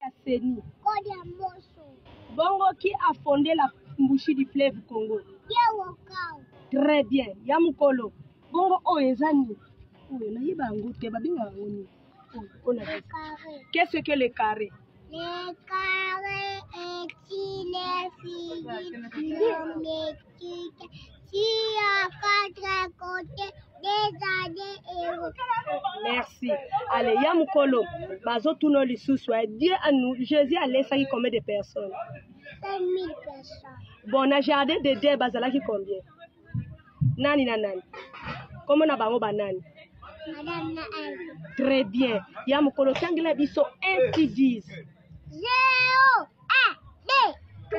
ya CENI. Code ya Mboso. Bongo qui a fondé la mbushi du fleuve Congo? Pierre Okao. Très bien. Ya mukolo. Bongo oyo eza nini? Oyo nayeba yango te babenga yango nini? Oyo na carré. Qu'est-ce que le carré? Le carré est une figure Kita, tia quatre côté des années héros. Merci. Allez, ya mukolo, bazo tuno lisusu. Dieu a nous, Jésus a laissé combien de personnes? 5000 personnes. Bon, na jardin de Dieu bazalaki combien? Nani na nani? Comment na bango banani? Madame na Très bien. Ya mukolo tangela biso 1 qui disent. 0 1 2 3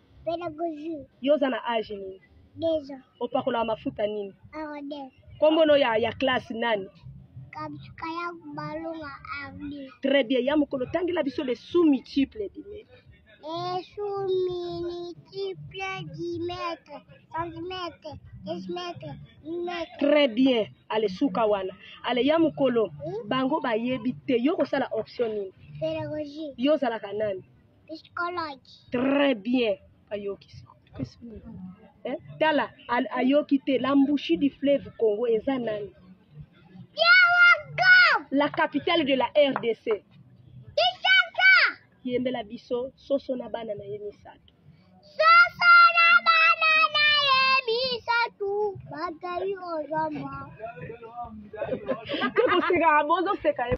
Pédagogie. Yo oza na âge nini? Deux ans. Opakolaka mafuta nini? Arode. Kombo no ya, ya classe nani? Kabsuka ya balunga ardi. Très bien. Ya mokolo tangela biso le sous multiple dime. Les sous multiple dimètre, centimètre, décimètre, millimètre. Très bien. Ale suka wana. Ale ya mokolo Hmm? bango bayebi te yo kosala option nini? Pédagogie. Yo ozalaka nani? Psychologue. Très bien. Ayoki siko. Eh, tala al- ayoki te la mbushi du fleuve congo eza nani Biawaga. la capitale de la rdc Kinshasa. yembela biso soso na bana na ye misato Soso na bana na ye misato bakei ozoma. tokoseka bozoseka ye